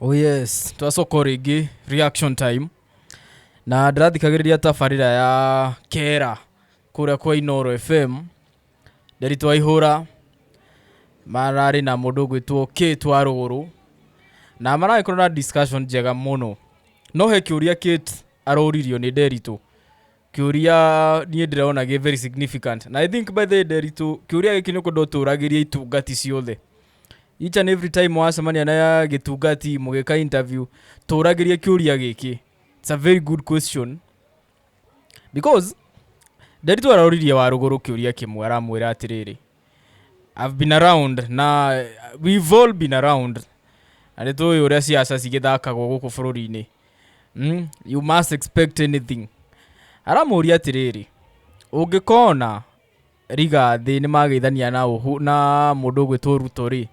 oh yes twacoko rĩngĩ reaction time na ndĩrathikagĩrĩria tabarĩra ya kera kũrĩa kwa inoro fm nderi twaihũra mararĩ na mũndũ ũgwĩtwo k twa rũgũrũ na maragĩkorwo na discussion njega mũno no he kĩũria kate aroririo nĩ nderitũ Kĩũria niĩ ndĩrona gĩ very significant. Na I think by the way Nderitu, kĩũria gĩkĩ nĩ ũkwenda ũtũragĩrie itungati ciothe. Each and every time wacemania na gĩtungati mũgĩka interview, tũragĩrie kĩũria gĩkĩ. It's a very good question. Because Nderitu aroririe wa rũgũrũ kĩũria kĩmwe aramwĩra atĩrĩrĩ, I've been around na we've all been around na nĩ tũĩ ũrĩa ciaca cigĩthakagwo gũkũ bũrũri-inĩ mm? you must expect anything aramũria atĩrĩrĩ ũngĩkona riga thĩ nĩ mageithania na, ũhu, na mũndũ ũgwĩtwo ruto rĩ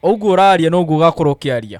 ũguo ũraria noguo ũgakorwo ũkĩaria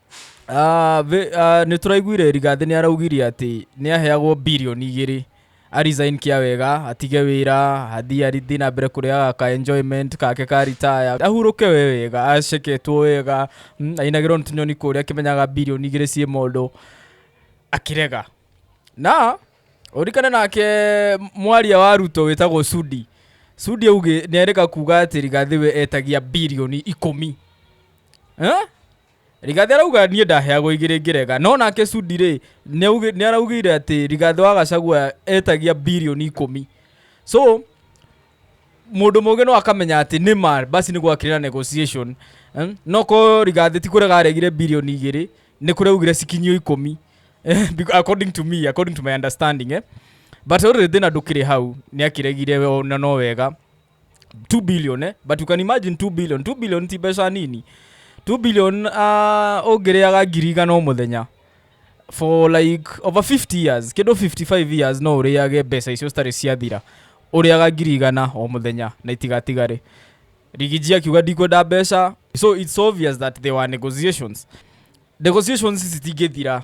Ah, ve- ah, nĩ tũraiguire rigathĩ nĩ araugire atĩ nĩ aheagwo bilioni igĩrĩ arisign kĩa wega atige wĩra athiĩ athiĩ na mbere kũrĩaga ka enjoyment kake ka ritaya ahurũke we wega aceketwo wega mm, ainagĩrwo nĩ tũnyoni kũrĩa akĩmenyaga bilioni igĩrĩ ciĩ mũndũ akĩrega na ũrikane nake mwaria wa ruto wĩtagwo sudi sudi auge nĩ arega kuga atĩ rigathĩ we etagia bilioni ikũmi eh? Rigathi arauga niĩ ndaheagwo igĩrĩ ngĩrega no nake Sudi rĩ nĩ araugire atĩ Rigathi wa Gachagua etagia birioni ikũmi so mundu mugi no akamenya ati ni ma basi ni gwakire na negotiation eh? no ko rigathi ti kurega aregire bilioni igiri ni kureugire cikinyio ikumi eh, according to me according to my understanding eh? but uri thina ndukiri hau ni akiregire na no wega 2 billion eh? but you can imagine 2 billion 2 billion ti mbeca nini 2 billion uh, ũngĩrĩaga ngiri igana o mũthenya for like over 50 years kĩndũ 55 years no ũrĩage mbeca icio citarĩ ciathira ũrĩaga ngiri igana o mũthenya na itigatigare rigiji akiuga ndikwenda mbeca so it's obvious that there were negotiations negotiations ici citingĩthira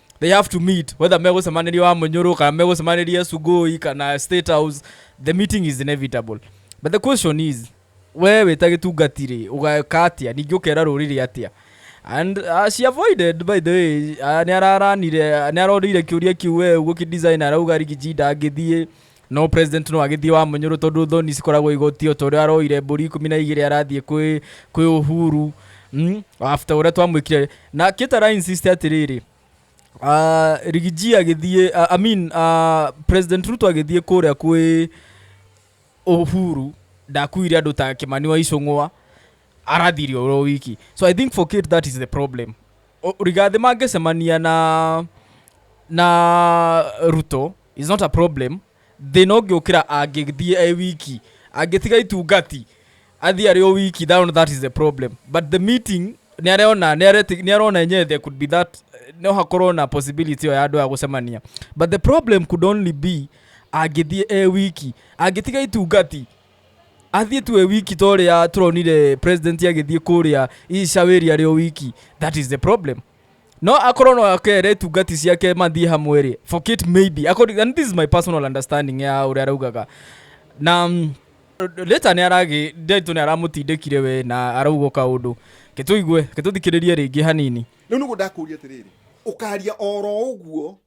they have to meet whether megũcemanĩria wa mũnyũrũ kana megũcemanĩria sugoi kana state house the meeting is inevitable but the question is we wĩta gĩtungati rĩ ũgeka atĩa ningĩ ũkera rũrĩrĩ atĩa and uh, she avoided by the way uh, nĩ araranire nĩ arorire kĩũria kĩu we ũguo kĩdesign arauga rigiji ndangĩthiĩ No president no agĩthiĩ wa mũnyũrũ tondũ thoni cikoragwo igoti o ta ũrĩa aroire mbũri ikũmi na igĩrĩ arathiĩ kwĩ kwĩ Uhuru mm, after ũrĩa twamwĩkire na kĩtara insist atĩrĩrĩ ah, rigiji agĩthiĩ ah, I mean ah, president Ruto agĩthiĩ kũrĩa kwĩ Uhuru ndakuire andũ ta Kimani wa Icũng'wa arathirio ũrĩa wiki so I think for Kate that is the problem O- rigathi mangĩcemania na na Ruto It's not a problem. Thĩna ũngĩũkĩra angĩthiĩ e wiki. Angĩtiga itungati, athiĩ arĩ o wiki, that one that is the problem. But the meeting, nĩ arona, nĩ areti- nĩ arona enyewe there could be that, no hakorwo na possibility ĩyo ya andũ aya gũcemania. But the problem could only be angĩthiĩ e wiki. Angĩtiga itungati, athiĩ tu e wiki ta ũrĩa tũronire president agĩthiĩ kũrĩa icawa area arĩ o wiki. That is the problem. no akorwo no akere tungati ciake mathiĩ hamwe rĩ forget maybe according, and this is my personal understanding ya ũrĩa araugaga na mm, leta nĩ aragĩ ndetũ nĩ aramũtindĩkire we na arauga kaũndũ ketũigue ketũthikĩrĩrie rĩngĩ hanini rä u nä guo ndakå ria atä rä rä å karia oro å guo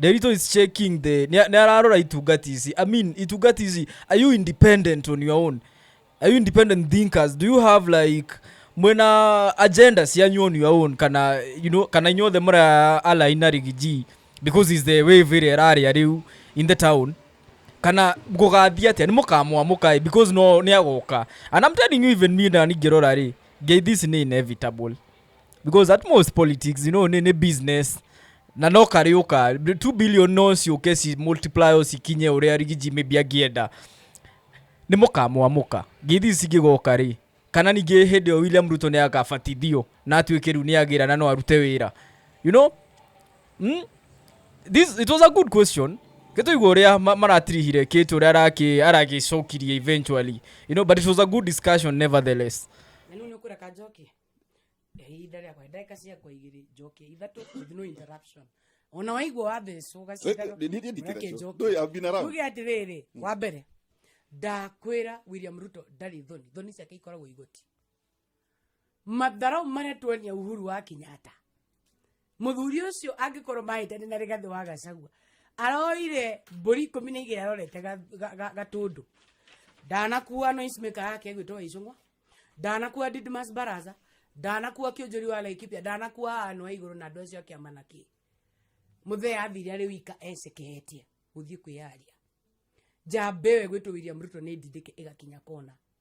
Derito is checking the ni ni ararora itungati ici i mean itungati ici are you independent on your own are you independent thinkers do you have like mwena agenda cianyu on your own kana you know kana inyuothe mura align na rigiji because is the wave ĩrĩa ĩrarĩa rĩu in the town kana gũgathiĩ atĩa nĩ mũkamwamũkaĩ because no nĩ agoka and I'm telling you even me na ningĩrora rĩ ngeithi ici nĩ inevitable because at most politics you know nĩ nĩ business na no karĩũka 2 billion no ciũke ci multiply o cikinye ũrĩa rigiji maybe angĩenda nĩ mũkamwamũka ngeithi ici cingĩgoka rĩ kana ningĩ hĩndĩ ĩyo william ruto nĩ akabatithio na atuĩke rĩu nĩ agĩra na no arute wĩra you know mm? this it was a good question gĩtũigua ũrĩa ma- maratirihire kĩtu ũrĩa araki- aragĩcokirie eventually you know but it was a good discussion nevertheless na nä å nä å kå reka njoke ihinda rĩakwa ndagĩka ciakwa igĩrĩ njoke ithatũ with no interruption ona waigua wathecwo ũgaciuge atĩrĩrĩ mm. wa mbere ndakwĩra william ruto ndarĩ thoni thoni ciake ikoragwo igoti matharau marĩa tuonia uhuru wa kenyatta muthuri ucio angikorwo mahitani na rigathi wa gacagua aroire mburi ikumi na igiri arorete gatundu ndanakuwa noise maker yake egwitwo icungwa ndanakuwa didmas baraza ndanakuwa kionjori wa laikipia ndanakuwa anwa iguru na andu acio akiama na ki muthee athire ari wika ecekehetie guthii kwiyaria njambewe gwitwo william ruto ni ndindike igakinya kona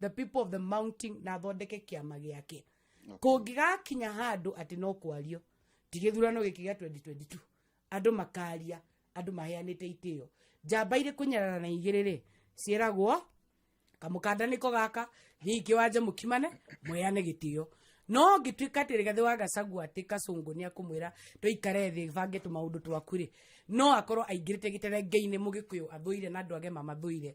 the people of the mountain na athondeke kĩama gĩake kũngĩgakinya handũ atĩ no kwario ti gĩthurano gĩkĩ gĩa 2022 andũ makaria andũ maheanĩte itĩo njamba irĩ kũnyarara na igĩrĩ rĩ ciĩragwo kamũkanda nĩko gaka thiĩ kĩwanja mũkimane mwĩyane gĩtĩo no ngĩtuĩka atĩ rĩgathĩ wa gacagua atĩ kacũngũ nĩ akũmwĩra tũikare thĩ bange tũmaũndũ twaku rĩ no akorwo aingĩrĩte gĩterengeinĩ mũgĩkũyũ athũire na andũ age mamathũire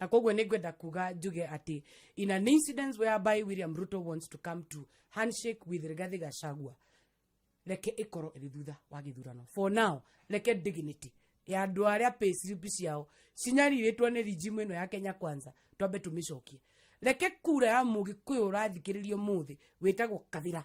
na koguo nä ngwenda kuga njuge atä in an incidence whereby william ruto wants to come to handshake with rigathi gachagua reke ikorwo iri thutha wa githurano for now reke dignity ya andu aria payslip ciao cinyarirĩtwo nĩ rijimu ĩno ya kenya kwanza twambe tũmĩcokie reke kura ya mũgĩkũyũ ũrathikĩrĩrio mũthĩ wĩtagwo kathira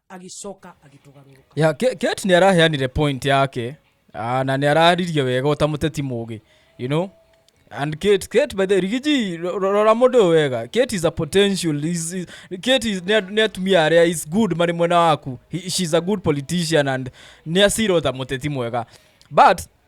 agĩcoka agĩtũgarũrũka ya Ke- Kate nä araheanire point yake ah, na nä araririe wega å ta må teti må gä you know and Kate, Kate by the way, rigiji ro- ro- rora må ndå å wega Kate is a potential is, is, Kate is- nĩ a- nĩ atumia arĩa is good marĩ mwena waku He- she's a good politician and nä acirwo ta må teti mwega but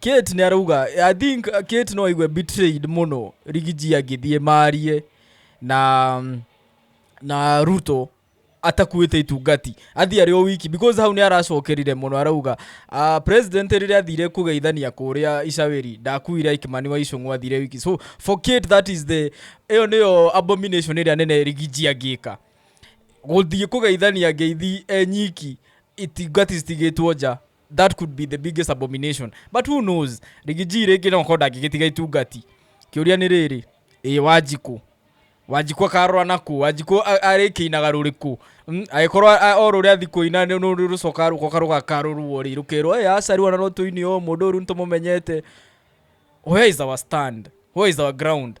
Kate nä arauga i think uh, Kate no aigue betrayed muno rigiji angĩthiĩ marie na na ruto atakuĩte itungati athiĩ arĩ o wiki because hau nĩ aracokerire mũno arauga uh, president rĩrĩa athire kũgeithania kũrĩa icawĩri ndakuire ikimani wa icũng'ũ athire wiki so for Kate that is the ĩyo nĩyo abomination ĩrĩa nene rigiji angĩka gũthiĩ kũgeithania ngeithi e nyiki itungati citigĩtwo nja that could be the biggest abomination but who knows rigiji rĩngĩ no korwo ndangĩgĩtiga itungati kĩũria nĩ rĩrĩ ĩ wanjikũ wanjikũ akarora nakũ wanjikũ a- arĩkĩinaga rũrĩkũ Mm, agĩkorwo a- a- o rũrĩa athi kũina nĩ- nĩ- nĩ rũcoka rũkoka rũgakarũrwo rĩ rũkerwo ĩ aca rĩu ona no tũini o mũndũ ũyũ rĩu nĩ tũmũmenyete where is our stand where is our ground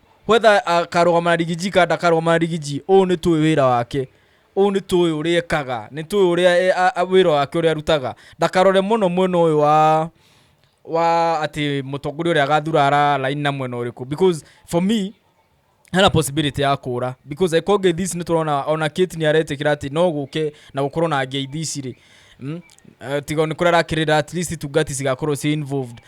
whether akarũgama na rigiji kana ndakarũgama na rigiji ũũ nĩ tũĩ wĩra wake ũũ nĩ tũĩ ũrĩa ekaga nĩ tũĩ ũrĩa e- a- a- wĩra wake ũrĩa arutaga ndakarore mũno mwena ũyũ wa wa atĩ mũtongoria ũrĩa agathura ara laini na mwena ũrĩkũ because for me hena possibility ya kũra because angĩkorwo ngeithi ici nĩ tũrona ona kate nĩ aretĩkĩra atĩ no gũke na gũkorwo na ngeithi ici rĩ Mm. Eh, tiga nĩ kũrĩa arakĩrĩra at least tungati cigakorwo ci involved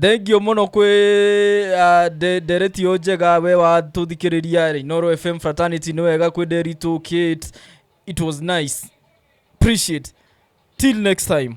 Thengio mũno kwĩ ah, nde- ndereti yo njega we wa tũthikĩrĩria Inoro FM fraternity nĩ wega kwĩ Nderitu Kate it was nice appreciate till next time